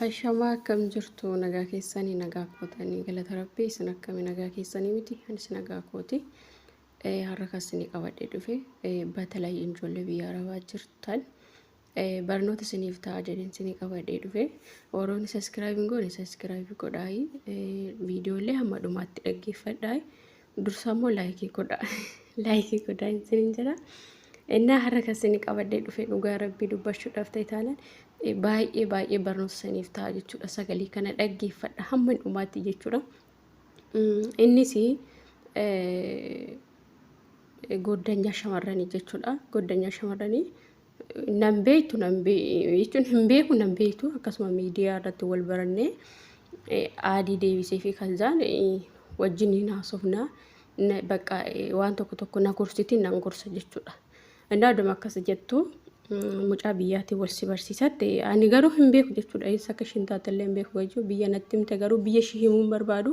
Ashamaa akkam jirtu nagaa keessanii nagaa kootanii galata rabbii isin akkami nagaa keessanii miti anis nagaa kooti Eh, har'a kan isinii qabadhe dhufe Eh, batalay ijoollee biyya arabaa jirtan Eh, barnoota isiniif ta'a jedheen isinii qabadhe dhufe warroonni saskiraayib hin goone saskiraayib godhaayi Eh, viidiyoolee hamma dhumaatti dhaggeeffadhaayi dursaa immoo laayikii godha laayikii godha isinin jedha innaa har'a kan isin qabadhee dhufe dhugaa rabbii dubbachuudhaaf ta'e taalan eh, baay'ee baay'ee barnoota isiniif ta'a jechuudha sagalee kana dhaggeeffadha hamma dhumaatti jechuudha Mm, innis eh, goddanyaa shamarranii jechuudha. Goddanyaa shamarranii nan beektu nan jechuun hin beeku nan beektu akkasuma miidiyaa irratti wal barannee aadii deebisee fi kalzaan wajjin hin haasofna bakka waan tokko tokko na gorsiti nan gorsa jechuudha. Indaa dama akkas jettu mucaa biyyaatii wal si barsiisatte ani garuu hin beeku jechuudha eessa akka ishiin taatellee hin beeku jechuudha biyya natti himte garuu biyya ishii himuu hin barbaadu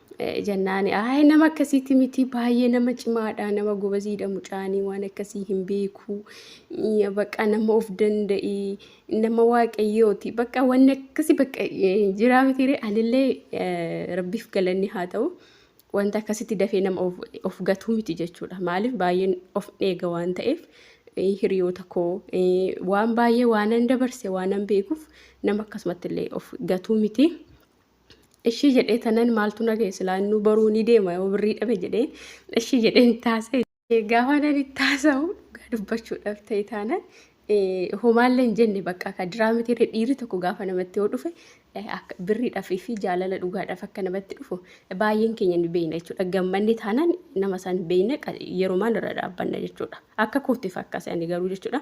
Eh, Jennaani ayi nama akkasiiti miti baay'ee nama cimaadha nama gobaziidha mucaanii waan akkasii hin beeku Iya, bakka nama of danda'i nama waaqayyooti bakka wanni akkasii bakka eh, jiraa mitiire anillee eh, rabbiif galanni haa ta'u wanta akkasitti dafee nama of, of gatuu miti jechuudha maaliif baay'een of eega waan ta'eef eh, hiriyoota koo eh, waan baay'ee waanan dabarse waanan beekuuf nama akkasumatti illee of gatuu miti. Ishii jedhee tanan maaltu na ga'e silaa innuu baruu ni deema yoo birrii dhabe jedhee ishii jedheen taasise. Gaafa nan itti haasa'u dhugaa dubbachuudhaaf ta'e taanaan homaallee hin jenne bakka akka diraa miti dhiirri tokko gaafa namatti yoo dhufe akka birriidhaaf fi jaalala dhugaadhaaf akka namatti dhufu baay'een keenya ni beekna jechuudha. Gammanni taanaan nama san beekna yerumaan irra dhaabbanna jechuudha. Akka kootiif akkasii ani garuu jechuudha.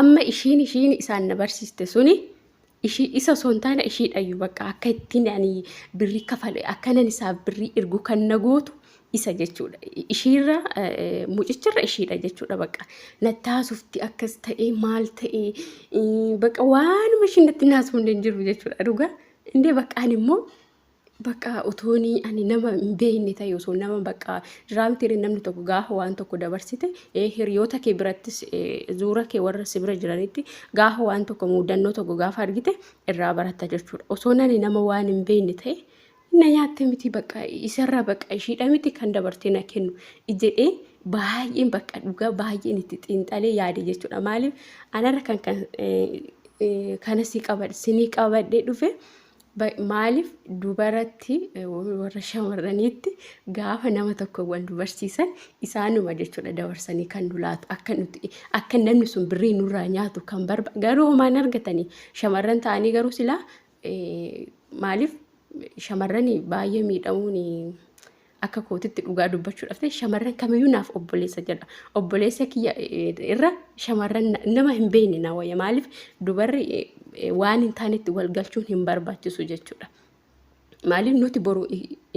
amma ishiin ishiin isaan na barsiiste suni ishii isa osoo hin taane ishiidhayyu bakka akka ittiin ani birrii kafale akkanan isaaf birrii ergu kan na gootu isa jechuudha. Ishiirra mucicharra ishiidha jechuudha bakka natti haasofti akkas ta'ee maal ta'ee bakka waanuma ishiin natti hin haasofne hin jiru jechuudha dhugaa. Indee bakka ani immoo Bakka utooni ani nama hin beekne ta'e osoo nama bakka raamtiire namni tokko gaafa waan tokko dabarsite hiriyoota kee birattis zuura kee warra si bira jiranitti gaafa waan tokko muudannoo tokko gaafa argite irraa baratta jechuudha. Osoo nani nama waan hin beekne ta'e na nyaatte miti bakka isarraa bakka ishiidha miti kan dabartee na kennu jedhee baay'een bakka dhugaa baay'een itti xiinxalee yaade jechuudha. Maaliif anarra kan kan kanas qabadhe sinii qabadhee dhufe Maaliif dubaratti warra shamarraniitti gaafa nama tokko wal nu barsiisan isaanuma jechuudha dabarsanii kan nu laatu akka nuti akka namni sun birrii nurraa nyaatu kan barba garuu homaan argatanii shamarran ta'anii garuu silaa maaliif shamarran baay'ee miidhamuun akka kootitti dhugaa dubbachuudhaaf ta'e shamarran kamiyyuu naaf obboleessa jedha. Obboleessa kiyya irra shamarran nama hin beekne na wayya. Maaliif dubarri waan hin taanetti wal galchuun hin barbaachisu jechuudha. Maaliif nuti boru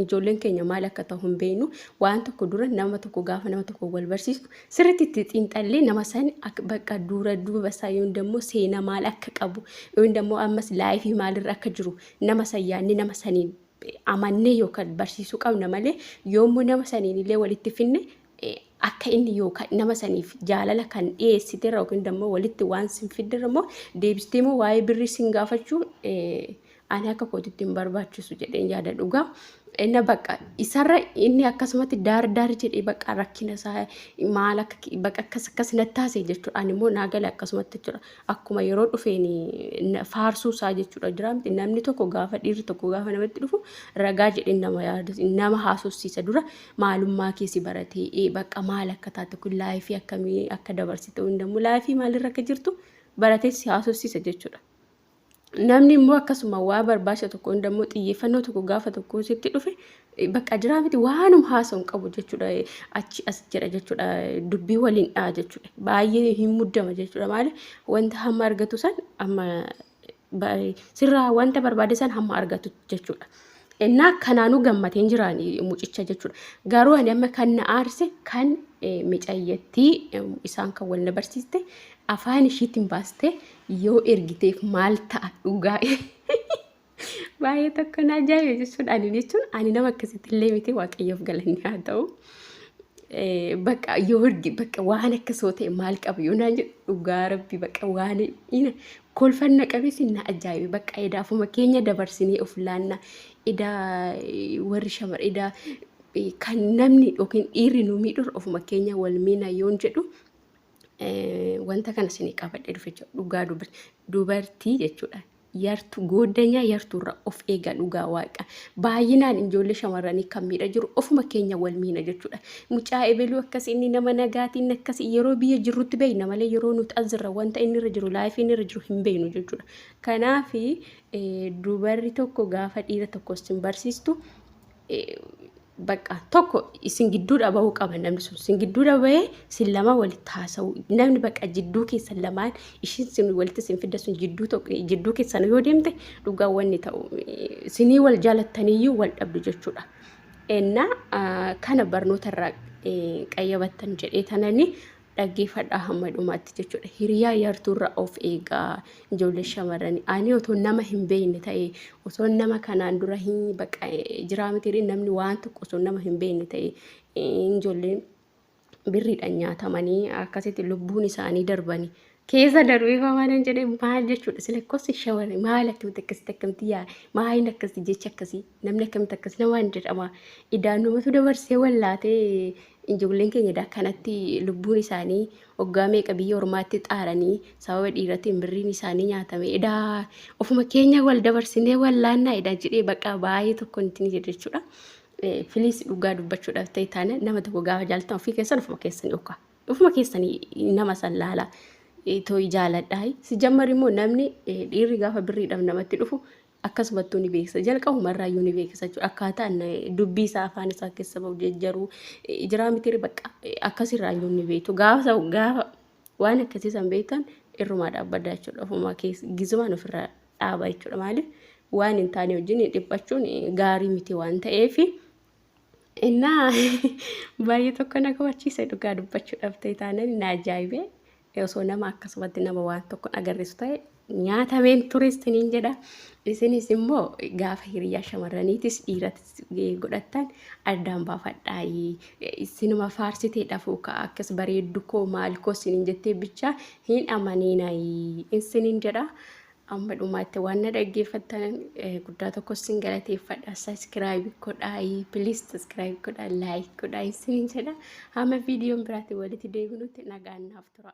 ijoolleen keenya maal akka ta'u hin beeknu waan tokko dura nama tokko gaafa nama tokko wal barsiisnu sirriitti itti xiinxallee nama sani bakka dura duuba isaa yoon dammoo seena maal akka qabu yoon dammoo ammas laayifii maalirra akka jiru nama san yaadne nama saniin amannee yookaan barsiisuu qabna malee yoommoo nama saniin illee walitti finne akka inni yookaan nama saniif jaalala kan dhiyeessite irra yookiin immoo walitti waan sin fidde irra immoo deebistee immoo waa'ee birrii sin gaafachuu ani akka kootitti hin barbaachisu jedheen yaada dhugaa. Inna bakka isarra inni akkasumatti daar daar jedhee bakka rakkina isaa maal akka bakka akkas akkas na taasise jechuudha. Ani immoo naa gale akkasumatti jechuudha. akkuma yeroo dhufeen faarsuu isaa jechuudha jira miti namni tokko gaafa dhiirri tokko gaafa namatti dhufu ragaa jedheen nama yaadatu nama haasofsiisa dura maalummaa keessi baratee bakka maal akka taate kun laayifii akkamii akka dabarsite hundammoo laayifii maalirra akka jirtu baratee si haasofsiisa jechuudha. Namni immoo akkasuma waa barbaacha tokko hunda immoo xiyyeeffannoo tokko gaafa tokko sitti dhufe bakka jiraa miti waanum haasa'u hin qabu jechuudha. Achi as jedha jechuudha. Dubbii waliin dha'a jechuudha. Baay'ee hin muddama jechuudha. Maali wanta hamma argatu san amma sirraa wanta barbaade san hamma argatu jechuudha. Innaa kanaanuu gammatee hin jiraan mucicha jechuudha. Garuu ani amma kan na aarse kan micayyattii isaan kan wal na barsiiste afaan ishiitiin baaste yoo ergiteef maal ta'a dhugaa baay'ee tokko na ajaa'ibe jechuudha ani jechuun ani nama akkasitti illee miti waaqayyoof galanni haa ta'u Eh, bakka yoo ergi bakka waan akka soo ta'e maal qabu yoo naan jedhu dhugaa rabbi bakka waan ina kolfan na qabee sin na ajaa'ibe bakka edaa ofuma keenya dabarsinee of laanna edaa eh, warri shamar edaa eh, kan namni yookiin dhiirri nu miidhurra ofuma keenya wal miina yoon jedhu wanta kana isinii qabadhe dhufe jechuudha. Dhugaa dubartii jechuudha. Yartuu gooddanyaa yartuurra of eegaa dhugaa waaqa. Baay'inaan ijoollee shamarranii kan miidha jiru ofuma keenya wal miina jechuudha. Mucaa ebeluu akkas inni nama nagaatiin akkas yeroo biyya jirrutti beekna malee yeroo nuti as jirra wanta inni irra jiru laayifii inni irra jiru hin beeknu jechuudha. Kanaaf dubarri tokko gaafa dhiira tokko isin barsiistu bakka tokko isin gidduudha bahuu qaba namni sun isin gidduudha bahee isin lama walitti haasa'u namni bakka jidduu keessan lamaan ishiin isin walitti isin fidda sun jidduu tokko jidduu keessan yoo deemte dhugaa wanni ta'u isinii wal jaalattaniyyuu wal dhabdu jechuudha. Ennaa kana barnoota irraa qayyabattan jedhee tananii dhaggeeffadhaa hamma dhumaatti jechuudha. Hiriyaa yartuurra of eegaa ijoollee shamarranii. Ani otoo nama hin beekne ta'e osoo nama kanaan dura hin baqa jiraa mitiirii namni waan tokko osoo nama hin beekne ta'e ijoolleen birriidhaan nyaatamanii akkasitti lubbuun isaanii darbanii Keessa daruu ifaa waan hin jedhee maal jechuudha sila kosi shawari maal akkamitti akkasitti akkamti yaa maayin akkasi jecha akkasi namni akkamitti akkas namaan jedhama idaan namatu dabarsee wallaatee ijoolleen keenya idaa kanatti lubbuun isaanii waggaa meeqa biyya ormaatti xaaranii sababa dhiiratiin birriin isaanii nyaatame idaa ofuma keenya wal dabarsinee wallaannaa idaa jedhee baqaa baay'ee tokko nuti ni jedhe jechuudha. Filiis dhugaa dubbachuudhaaf ta'e taana nama tokko gaafa jaalatan ofii keessan ofuma keessan yookaan. Ofuma keessanii nama san laala tooyi jaaladhaa. Si jammar immoo namni dhiirri gaafa birriidhaaf namatti dhufu akkasumattuu ni beeksisa. Jalqabuma irraa iyyuu ni beeksisa jechuudha. Akkaataan dubbii isaa afaan isaa keessa bahu jejjaru jiraa mitiiri bakka akkasirraa iyyuu ni beektu. Gaafa gaafa waan akkasii san beektan irrumaa dhaabbadha jechuudha. Ofuma keessa gizumaan ofirraa dhaaba jechuudha. Maaliif waan hin taane wajjin dhiphachuun gaarii miti waan ta'eef. Innaa baay'ee tokko na gammachiise dhugaa dubbachuu dhabtee taanaan na ajaa'ibee osoo nama akkasumatti nama waan tokko agarsiisu ta'e nyaatameen ture isiniin jedha. Isinis immoo gaafa hiriyaa shamarraniitis dhiiratis godhattan addaan baafadhaa. Isinuma faarsitee dhafuu ka'a akkas bareeddu koo maal koo isiniin jettee bichaa hin amaniinaa isiniin jedha. Amma dhumaatti waan na dhaggeeffattan guddaa tokko isin galateeffadha. Saskiraayib godhaayi. Piliis saskiraayib godhaa. Laayik godhaa isiniin jedha. Hamma viidiyoon biraatiin walitti deebinutti nagaan naaf tura.